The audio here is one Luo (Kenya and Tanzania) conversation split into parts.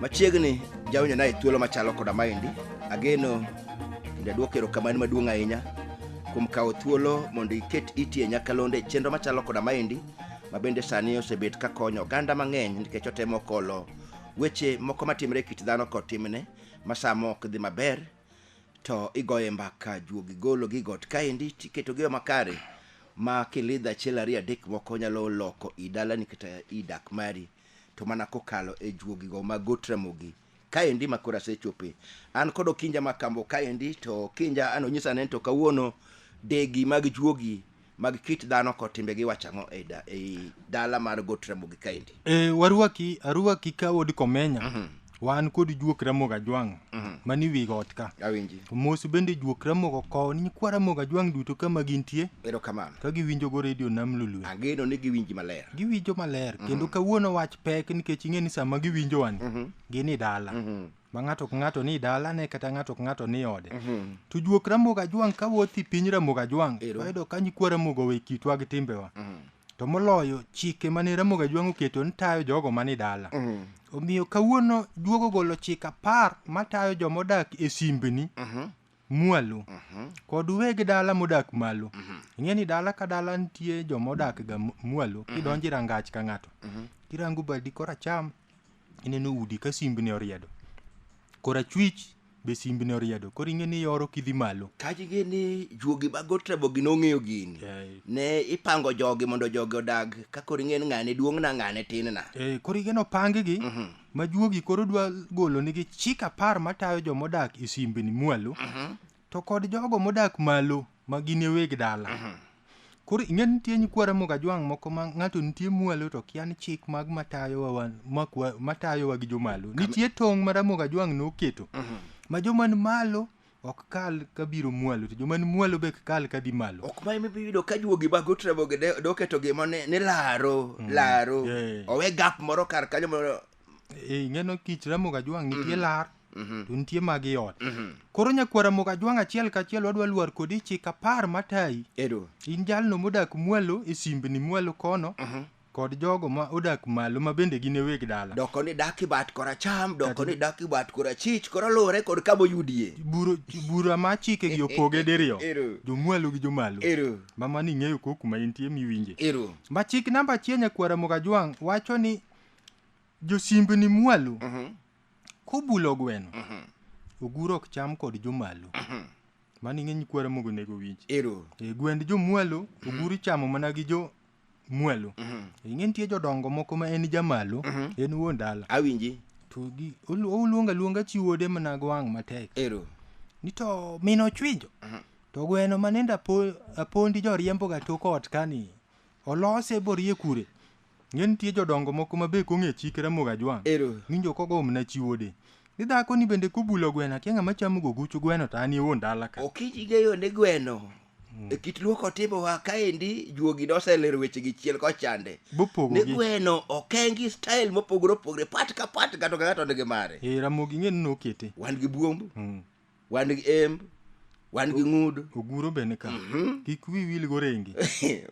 Machiegni jawinjo naye thuolo machalo koda maendi. Ageno kendo aduoko erokamano maduong' ahinya kuom kawo thuolo mondo iket iti e nyakalonde chenro machalo koda maendi ma bende sani osebet kakonyo oganda mang'eny nikech otemo kolo weche moko matimre e kit dhano kod timne ma sama ok dhi maber to igoye mbaka juogi golo gi got kaendi tiketogi yo makare ma kilidho achiel ariyo adek moko nyalo loko i dalani kata i dak mari to mana kokalo e juogigo ma got ramogi kaendi ma koro asechope an kod okinja ma kambo kaendi to okinja an onyisa ni to kawuono degi mag juogi mag kit dhano kod timbegi wacho ang'o ei da- ei dala mar got ramogi kaendi e, warwaki arwaki ka od komenya wan kod juok ramogo ajwang' mani wi got ka awinji mos bende juok ramogo kowo ni nyikwa ramogo ajwang' duto kama gintie erokamano ka giwinjogo redio nam lulwe angeno ni giwinji maler giwinjo maler kendo kawuono wach pek nikech ing'e ni sama giwinjo wani gin i dala ma ng'ato ka ng'ato ni dalane kata ng'ato ka ng'ato ni ode Mhm. to juok ramogo ajwang' ka wuoth i piny ramogo ajwang' Ero. wayudo ka nyikwa ramogo we kitwa gi timbewa Mhm. to moloyo chike mane ramogo ajwang' oketo ni tayo jogo mani dala Mhm. omiyo kawuono juogo golo chik apar matayo joma odak e simbni Mhm. mwalo Mhm. kod weg dala modak malo ing'e ni dala ka dala nitie joma odak ga m- mwalo kidonjo e rangach ka ng'ato Mhm. kirango badi koracham ineno udi ka simbni oriedo kora chwich be simbni oriedo koro ing'e ni yoro kidhi malo tajige ni juogi mag otrabogi nong'eyo gini Eh. ne ipango jogi mondo jogi odag ka koro ing'e ni ng'ane duong'na ng'ane tinna Eh, koro igeno pangigi ma juogi koro dwa golo nigi chik apar matayo jomodak e simbni mwalo To kod jogo modak malo ma gin e weg dala. Koro ing'e ni nitie nyikwa Ramogi Ajwang' moko ma ng'ato nitie mwalo to kia ni chik mag matayowa wan makwa- matayowa gi jomalo. Nitie tong' ma Ramogi Ajwang' noketo ma joma ni malo ok kal ka biro mwalo to joma ni mwalo be ok kal ka dhi malo. ok ma imibi yudo ka juogi mag utrebogi de- doketo gima ni ni laro laro Yeah. owe gap moro kar kanyo moro Eh, ing'e no kich Ramogi Ajwang' nitie lar Mhm. to nitie mag i ot Mhm. koro nyakwara mok ajwang' achiel kachiel wadwa lwar kodi chik apar matayi Ero. in jalno modak mwalo e simbni mwalo kono Mhm. kod jogo ma odak malo ma bende gin e weg dala Doko ni dak ibat koracham, doko ni dak ibat korachich, koro luwore kod kama oyudie. Buro- bura ma chikegi opoge diriyo Ero. jomwalo gi jomalo Ero. ma mano ing'eyo ko kuma intie miwinje Ero. ma chik namba achiel nyakwara mok ajwang' wacho ni josimbni mwalo Mhm. Kobulo gweno. Oguro ok cham kod jomalo. Mano ing'e nyikwara mogo nego winj. Ero. E gwend jomwalo, oguro ichamo mana gi jo mwalo. E ing'e nitie jodongo moko ma en jamalo, en wuon dala. Awinji. To gi olu- oluonga luonga chi wuode mana gwang' matek. Ero. Ni to min ochwinjo. To gweno manende apo, apondi joriemboga tok ot kani. Olose borie kure. Ng'e nitie jodongo moko ma be kong'e chik Ramogi Ajwang'. Ero. Winjo kogo omna chi wuode. Ni dhako ni bende kobulo gweno akia ng'ama chamo go guch gweno to an e wuon dala ka. Okinyi geyo ni gweno. E kit luo kotimo wa kaendi juogi noselero weche gi chiel kochande. Bopogo Ni gi. gweno okengi style mopogore opogore pat ka pat ng'ato ka ng'ato nigi mare. Eh, Ramogi ing'e ni nokete. Wan gi buomb, Mm. wan gi emb wan gi ng'ud oguro be ni ka mhm. kik wi wil go rengi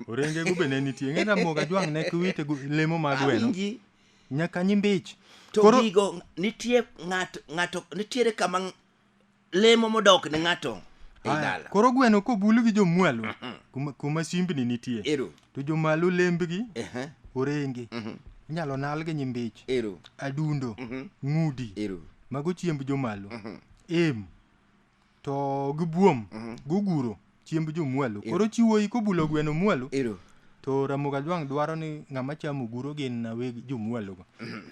orenge go be ne nitie ng'e na moga jwang ne kiwite lemo mag weno nyaka nyimbich to Koro... gigo nitie ng'ato ng'ato nitiere kama lemo modok ne ng'ato koro gweno kobul gi jomwalo mhm. kuma simbni nitie to jomalo lembgi Ehe. orenge Mhm. inyalo nal gi nyimbich Ero. adundo Mhm. ng'udi Ero. mago chiemb jomalo Mhm. em to gi buom Mhm. guguro chiemb jomwalo Ero. koro chiwoyi kobulo gweno mwalo Ero. to ramoga jwang' dwaro ni ng'ama chamo oguro gin na weg jomwalogo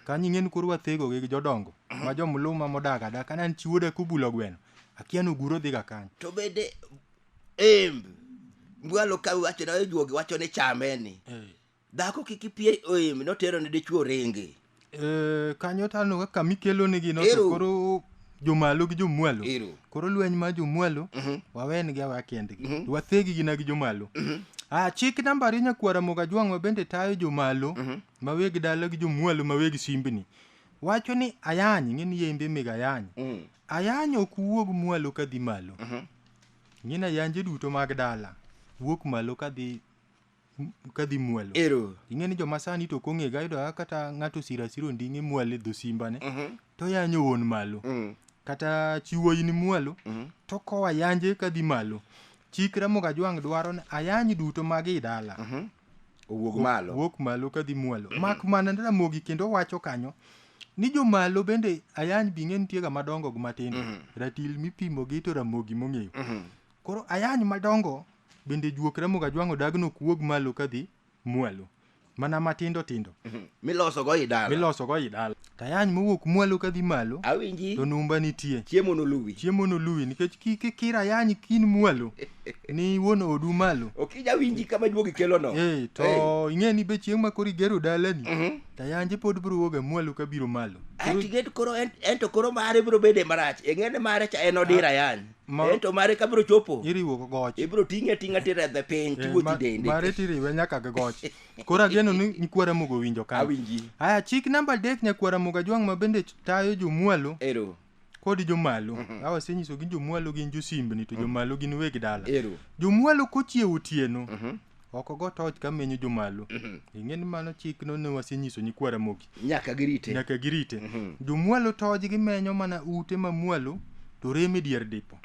kanyo ing'e ni koro wathego gi jodongo ma jomluma modak adaka nan chiwoda kobulo gweno akia ni oguro dhiga kanyo To bende Em, mbwalo ka wacho na juogi wacho ni chame ni. Dhako kik ipie em notero ne dichuo ringi. Eh, kanyo to aneno kaka mikelo nigi no to Ero. koro jomalo gi jomwalo Ero. koro lweny mar jomwalo Mhm. wawenigi awa kendgi Mhm. wathegi gina gi jomalo Mhm. ah, chik namba ariyo nyakwara moga jwang'wa bende tayo jomalo Mhm. maweg dala gi jomwalo maweg simbni wacho ni ayany ng'eni yembe meg ayany Mm. ayany ok wuog mwalo kadhi malo Mhm. Ngina yanje duto mag dala wuok malo kadhi kadhi mwalo. Ero. Ing'e ni joma sani to kong'e ga yudo kata ng'ato sira siro nding'e mwale dho simba ne. Mhm. To yanyo won malo. Mm. Kata chiwo in mwalo. Mhm. To kowa yanje kadhi malo. Chikra moga jwang' dwaro ni ayany duto mag i dala. Mhm. owuog malo wuok malo kadhi mwalo mak mana ni ramogi kendo wacho kanyo ni jomalo bende ayany bing'e nitiega madongo gi matindo ratil mipimo gi to ramogi mong'eyo koro ayany madongo bende juok ramogi ajwang'o dagno ok wuog malo kadhi mwalo mana matindo tindo miloso go idala miloso go idala Tayany mowuok mwalo ka dhi malo. Awinji. To numba nitie. Chiemo noluwi. Chiemo noluwi nikech kike kira yany kin mwalo. ni wuon odu malo. Okija winji kama duogi kelo no. Eh, to hey. ing'e ni be chieng' ma kori gero dalani. Mm -hmm. Tayanje pod bro woga mwalo ka biro malo. Ati get koro ento koro mare bro bede marach. Ing'e ni mare cha en odira ah, yany. Ma, ento mare ka bro chopo. Iriwo goch. Ibro ting'e ting'a tira the piny eh, tiwuothi dende. Mare tiriwe nyaka goch. koro ageno ni nyikwa ramogo owinjo ka awinji haya chik namba adek nyakwa ramogo ajwang' ma bende tayo jomwalo ero kod jomalo mm-hmm. awa senyiso gin jomwalo gin josimbni to mm-hmm. jomalo gin weg dala ero jomwalo kochiewo otieno mm-hmm. oko go toch ka menyo jomalo ing'e ni mano chik no ne wasenyiso nyikwa ramogi nyaka girite nyaka girite jomwalo toj gimenyo mana ute mamwalo to rem e dier dipo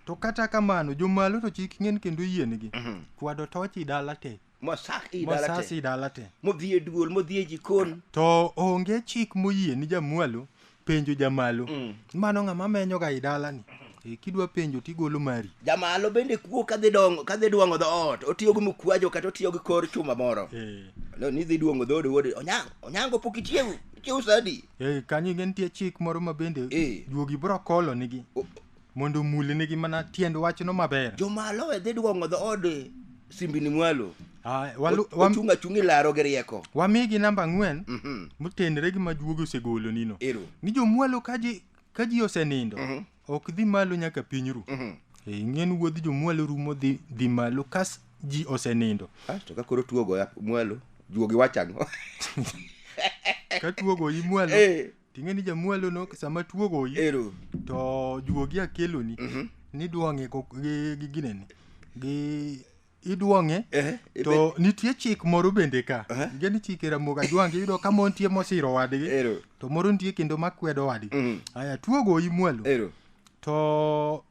to kata kamano jomalo to chik ng'en kendo yiengi kwado toch i dala te mosak i dala mosas te i dala te modhi e duol modhi e jikon to onge chik moyie ni jamwalo penjo jamalo Mm. mano ng'ama menyoga i dalani Eh, kidwa penjo tigolo mari jamalo bende kuo kadhi dongo kadhi duong'o dhoot otiyo gi mukwajo kata otiyo gi kor chuma moro Eh, no nidhi duong'o dhood wuod onyango onyango pok ichiewu ichiewu sadi eh, kanyo inge nitie chik moro ma bende Eh. juogi bro kolo nigi O- Mondo omulnigi mana tiend wachno maber. Jomalo e dhi duong'o dhood simbini mwalo. Ah, walu- wam- Ochung' achung' ilaro gi rieko. wamigi namba ang'wen Mhm. motenre gi majuogi osegolonino Ero. ni jomwalo ka ji ka ji osenindo Mhm. ok dhi malo nyaka piny ru Mhm. Eh, ing'e ni wuodh jomwalo rumo dhi dhi malo kas ji osenindo Ah, to ka koro tuo goya mwalo, juogi wacho ang'o? ka tuogo imwalo Eh. Ting'e ni jamwalo no sama tuo goyi Ero. to juogi akeloni Mhm. nidwang'e ko- gi gi gineni gi idwang'e Eh, to nitie chik moro bende ka Aha. nge ni chike ramoga jwange iyudo ka mon tie mosiro wadgi Ero. to moro nitie kendo makwedo wadgi Mhm. aya tuo goyi mwalo Ero. to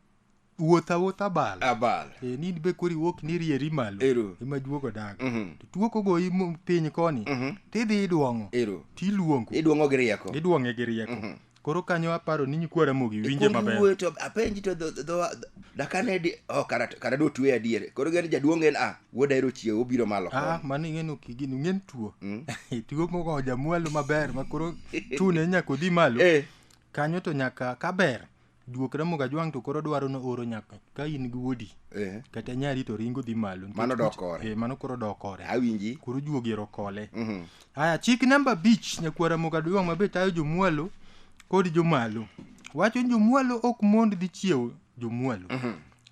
wuoth awuoth abal abal e ni be kori wuok ni rieri malo Ero. ema juogo dago Mhm. to tuo kogoyi mo- piny koni Mhm. tidhi idwong'o ero tiluongo iduong'o gi rieko idwong'e gi rieko koro kanyo aparo ni nyikwa ramogi winje Ikuongi maber wuoyo to apenji to dho- dho- dho- dakane di oh, kara kara do tuwe adier koro gani jaduong' en a wuoda ero chiewo obiro malo Ah, koni mano ing'eni ok igin ing'en tuo Mm. tuo mogo jamwalo maber ma koro chune nyaka odhi malo Eh, kanyo to nyaka kaber Juok Ramogi Ajwang' to koro dwaro no oro nyaka ka in gi wuodi Eh, kata nyari to ringo dhi malo. Nikech Mano dok kuch- kore. Eh, mano koro dok kore. awinji. Koro juogi ero kole. Mhm. Haya, chik namba abich nyakwar Ramogi Ajwang' mabe tayo jomwalo kod jomalo. Wacho ni jomwalo ok mond dhi chiewo jomwalo.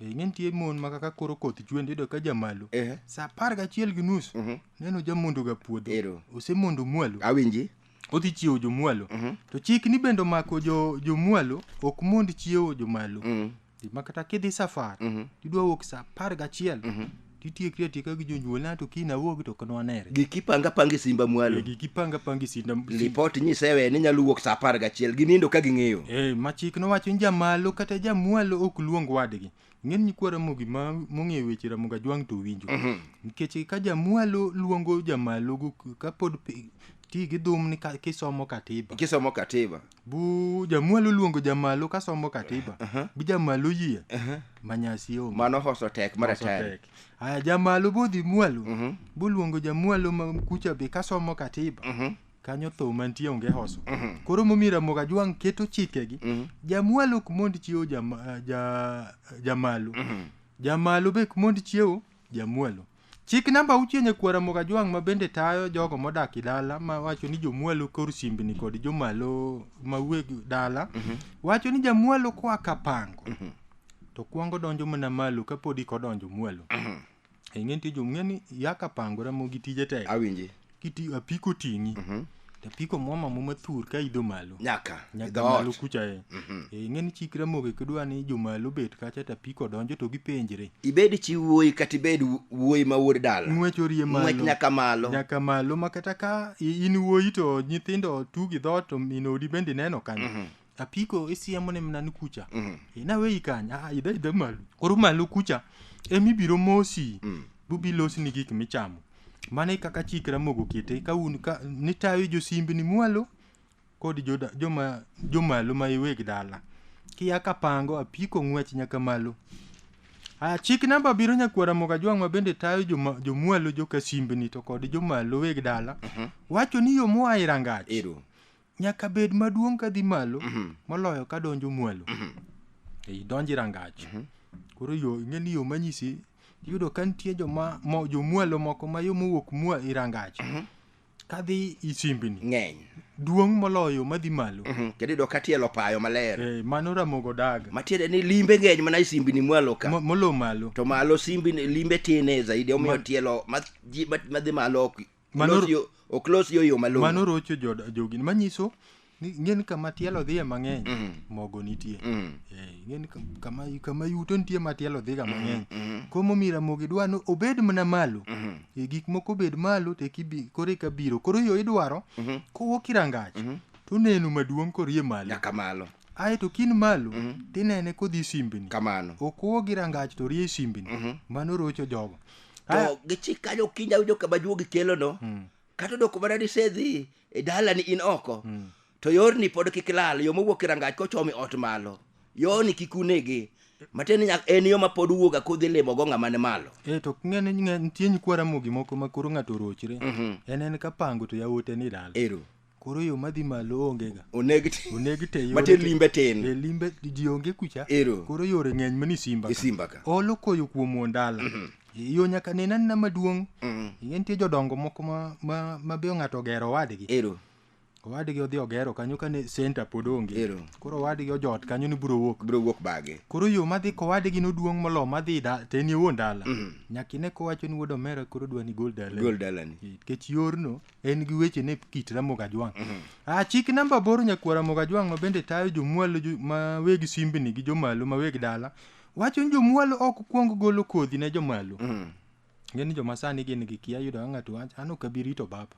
Eh, ing'e nitie mon ma kaka koro koth chwe ndiyudo ka jamalo. Eh, Sa apar gachiel gi nus Mhm. neno jamondoga puodho. Ero. Osemondo mwalo. awinji. odhi chiewo jomwalo Mhm. to chik ni bende omako jo- jomwalo ok mond chiewo jomalo Mm. ma kata kidhi safar Mhm. tidwa wuok sa apar gachiel titiekri atieka gi jonyuolna to kiny awuog to ok nwanere giki panga panga e simba mwalo gigi panga panga isinda lipot nyisewe ni nyalo wuok sa apar gachiel ginindo ka ging'eyo Eh, ma chik nowacho ni jamalo kata jamwalo ok luong wadgi ng'eny ni kwara mogi ma mong'eyo weche ramoga jwang to winjo mhm. nikech ka jamwalo luongo jamalo kapod ti gi dhum ni kisomo katiba kisomo katiba bu jamwalo luongo jamalo kasomo katiba uh -huh. bu jamalo yie uh -huh. manyasi onge mano hoso tek mara tek aya jamalo bu dhi mwalo uh mhm. -huh. bu luongo jamwalo ma kucha be kasomo katiba uh mhm. -huh. kanyo tho mantie onge hoso koro momiyo ramogi ajwang' keto chikegi jamwalo ok mond chiewo jama- ah, ja- jamalo jamalo be ok mond chiewo jamwalo chik namba auchiel nyakwa ramogi ajwang' ma bende tayo jogo modak e dala ma wacho ni jomwalo kor simbni kod jomalo ma weg dala wacho ni jamwalo koa kapango to kwongo donjo mana malo kapodi kodonjo mwalo ing'e nitie jo ng'e ni yaka pangore mo gi tije tek awinji kiti apiko ting'i Mhm. to apiko mwama muma thur ka idho malo nyaka nyaka idho malo ot kucha e Mhm. e ing'e ni chikre moke kidwa ni jomalo bet kacha to apiko donjo to gipenjre ibed chi wuoyi kata ibed wu- wuoyi ma wuod dala ng'wech orie malo ng'wech nyaka malo nyaka malo ma kata ka i- in wuoyi to nyithindo tugi dhoot to min odi bende neno kanyo apiko isiemo ne mna ni kucha mm. e, na weyi kanya ah, idha idha malu koro malu kucha emi biro mosi mm. bubi losi ni gik michamo mane kaka chikra mogo kete ka un ka ni tayo josimbi ni mwalo kod joda, joma jomalo ma iweg dala kiya ka pango apiko ng'wech nyaka malo a chik namba biro nyakwara moga jwang' ma bende tayo joma- jomwalo jokasimbni to kod jomalo weg dala wacho ni yo moa e rangach Ero. nyaka bed maduong' ka dhi malo moloyo ka donjo mwalo ei donji rangach koro yo ing'e ni yo manyisi iyudo ka nitie joma mo- jomwalo moko ma yo mowuok mwa i rangach ka dhi i simbni ng'eny duong' moloyo ma dhi malo Mhm. kendo iyudo ka tielo payo maler Eh, mano ramogo daga matiende ni limbe ng'eny mana e simbini mwalo ka Mo- molo malo to malo simbini limbe tine zaidi omiyo tielo ma- ji- ma- madhi malo ok Mano- Olos yo- ok los yo yo malong'o mano rocho joda- jogi manyiso ni ng'en kama tielo dhiye mang'eny mogo nitie Mm. Eh, ng'en ka- kama kama yuto nitie ma tielo dhiga mang'eny komo mira mogo idwa ni obed mana malo Eh, gik moko obed malo to ekibi koro eka biro koro yo idwaro kowuok irangach to oneno maduong' korie malo nyaka malo ae to kin malo mm-hmm. tinene kodhi simbni kamano okuwo gi rangach to rie simbni mm-hmm. mano rocho jogo to gichik kanyo kinda winjo kama juogi kelono mm. kata odoko mana ni sedhi e dalani in oko mm. to yorni pod kik lal yo mowuok e rangach kochomi ot malo yoni kik unegi matiende nyak en yo mapod wuoga kodhi limo go ng'ama ni malo e to ng'ene nitie nyikwa ramogi moko ma koro ng'ato orochre mm-hmm. en en ka pango to yawote ni dala ero koro yo madhi malo onge ga oneg te oneg te yore mate te- limbe tin e limbe ji onge kucha Ero. koro yore ng'eny mani simba e simba ka olo koyo kuom ondala yo nyaka nena nena maduong' Mhm. ing'e nitie jodongo moko ma, ma, ma be ng'ato ogero owadgi ero owadgi odhi ogero kanyo kane senta pod onge Ero. koro owadgi ojot kanyo ni biro wuok biro wuok bage koro yo madhi kowadgi noduong' molo madhi da teni wuon dala nyaka ine kowacho ni wuod omera koro dwa ni gol dala gol dalani nikech yorno en gi weche ne kit Ramogi Ajwang'. Ah, chik namba aboro nyakwar Ramogi Ajwang' ma bende tayo jomwalo jo- ma weg simbni gi jomalo ma weg dala wacho ni jomwalo ok kwong golo kodhi ne jomalo. Ng'e ni joma sani gin gi kia yudo ka ng'ato wacho an ok abi rito baba.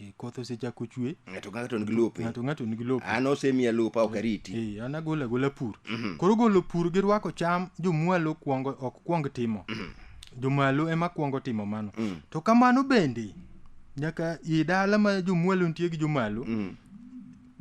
Eh, Koth osechako chwe, ng'ato ka ng'ato nigi lope ng'ato ng'ato nigi lope. an osemiya lopa ok ariti Eh, an agolo agola pur. Koro golo pur gi rwako cham jomwalo kwongo ok kwong timo. Jomalo ema kwongo timo mano. To kamano bende nyaka i dala ma jomwalo nitie gi jomalo Mm.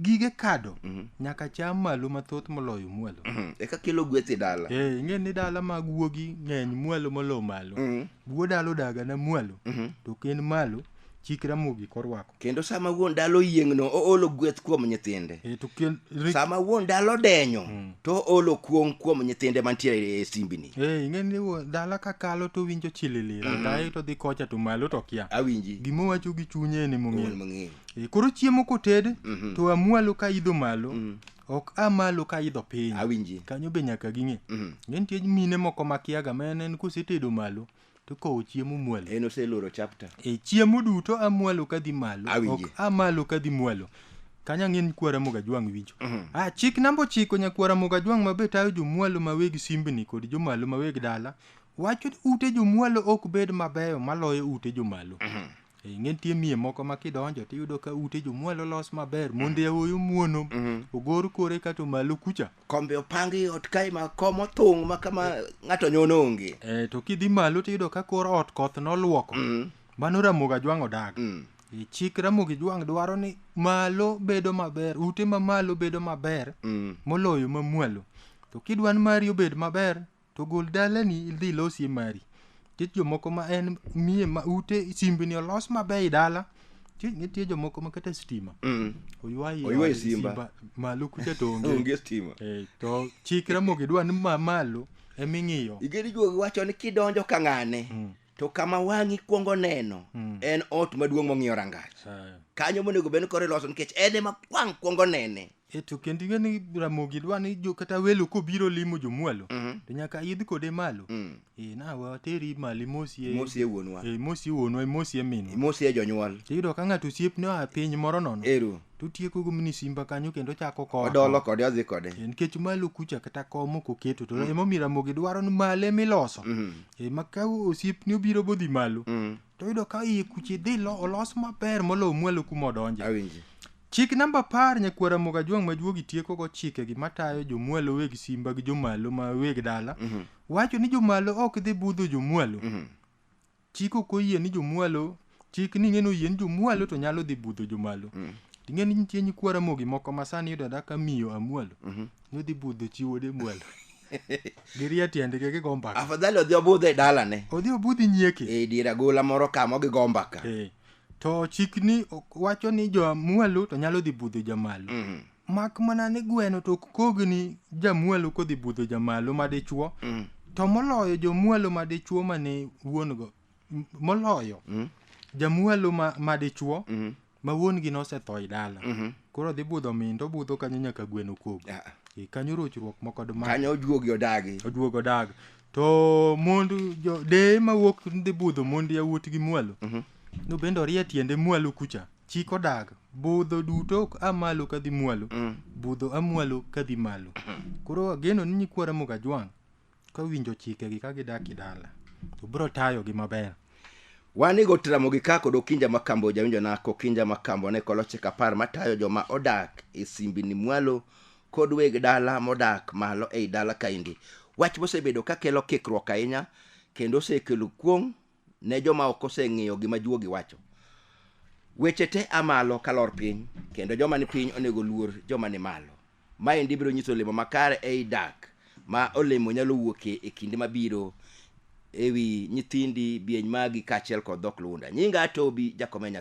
gige kado Mhm. nyaka cham malo mathoth moloyo mwalo Mm. eka kelo gweth e dala Eh, ing'e ni dala mag wuogi ng'eny mwalo molo malo Mm. wuo dala odaga na mwalo Mhm. to ken malo chik ramogi korwako kendo sama wuon dala oyieng'no oolo gweth kuom nyithinde Eh, to ken- sama wuon dala odenyo to oolo kuong' kuom nyithinde mantiere e simbini Eh, ing'e ni wo- dala ka kalo to winjo chililira Mhm. daye to dhi kocha to malo to kia awinji gima owacho gi chunye en Wuon emong'eyo mang'eyo Eh, koro chiemo koted Mhm. to amwalo ka idho malo Mm. ok amalo ka idho piny awinji kanyo be nyaka ging'e Mhm. ng'e nitie mine moko makiaga ma en en kosetedo malo to kowo chiemo mwalo en oseloro chapter e chiemo duto amwalo kadhi malo Awinje. ok amalo kadhi mwalo kanyo ang'e ni kwara mogajwang' winjo ah, chik namba ochiko nyakwara mogajwang' mabe tayo jomwalo maweg simbni kod jomalo maweg dala wacho ni ute jomwalo ok bed mabeyo maloyo ute jomalo Eh, ing'e nitie miye moko ma kidonjo tiyudo ka ute jomwalo los maber monde aoyo muono ogor kore kato malo kucha kombe opangi ot kae ma kom othung' ma kama ng'ato nyono onge e, to kidhi malo tiyudo ka kor ot koth nolwoko Mm. mano ramogi ajwang' odag Mm. E, chik ramogi jwang' dwaro ni malo bedo maber ute ma malo bedo maber Mm. moloyo mamwalo to kidwa ni mari obed maber To gol dalani idhi ilosie mari. Nitie jomoko ma en miye ma ute simbni olos maber i dala. Nitie- Nitie jomoko ma kata stima. Mm. Oywayi Oywayi od simba. Malo kucha to onge. onge stima Eh, to chik ramogi dwa ni ma malo eming'iyo. igeri juogi wacho ni kidonjo ka ng'ane to kama wang'i kwongo neno mm. en ot maduong' mong'iyo rangach kanyo monego bed kore loso nikech en ema wang' kwongo nene eto kendo ing'e ni ramogi dwa ni jo kata welo kobiro limo jomwalo mm -hmm. to nyaka idh kode malo mm. e, na wateri mali mosie mosie wuonwa e, mosie wuonwa e mosie minwa e mosie jonyuol to iyudo ka ng'ato osiepne oa piny moro nono Eru. to otieko go mini simba kanyo kendo ochako koa odolo kode odhi kode Eh, nikech malo kucha kata kom ok oketo to ema omiyo ramogi dwaro ni malo ema iloso Mhm. Eh, ma ka osiepni obiro bodhi malo Mm. to yudo ka iye kuche dhi lo- olos maber moloyo mwalo kuma odonje awinji chik namba apar nyakwara moga juang' majuogi tieko go chike gi matayo jomwalo weg simba gi jomalo ma weg dala wacho ni jomalo ok dhi budho jomwalo Mhm. chik ok oyie ni jomwalo chik ni ng'eno oyie ni jomwalo to nyalo dhi budho jomalo ing'e ni nitie nyikwa ramogi moko ma sani yudo ada ka miyo amwalo nodhi budho chi wuode mwalo girie tiendgi gigo mbaka afadhali odhi obudho e dalane odhi obudhi nyieke e dier agola moro kama gigo mbaka Eh, to chik ni ok- wacho ni jomwalo to nyalo dhi budho jamalo mak mana ni gweno to ok kogni jamwalo kodhi budho jamalo madichuo mm. to moloyo jomwalo madichuo mane wuon go m- moloyo mm. jamwalo ma, madichuo mm. ma wuon gi nosetho e dala mm-hmm. koro dhi budho min to budho kanyo nyaka gweno kog yeah. e, kanyo rochruok moko dma kanyo ojuogi odagi oduogo dag to mond jo- deye mawuok dhi budho mond yawuot gi mwalo mm-hmm. no bende orie tiende mwalo kucha chik odak budho duto ok a malo ka dhi mwalo Mm. budho a mwalo ka dhi malo koro ageno ni nyikwa ramogi ajwang' ka winjo chikegi ka gidak e dala to biro tayogi maber wan igo tiramogi ka kod okinja makambo jawinjona kokinja makambo ne koloche kapar matayo joma odak e simbini mwalo kod weg dala modak malo ei dala kaendi wach mosebedo kakelo kikruok ahinya kendo osekelo kuong' ne joma ok oseng'iyo gima juogi wacho. Weche te a malo ka lor piny, kendo joma ni piny onego luor joma ni malo. Maendi biro nyiso olemo makare ei dak, ma olemo nyalo wuokie e kinde mabiro ewi nyithindi, bieny magi, kaachiel kod dhok Lunda. Nyinga Atobi, Jakomenya.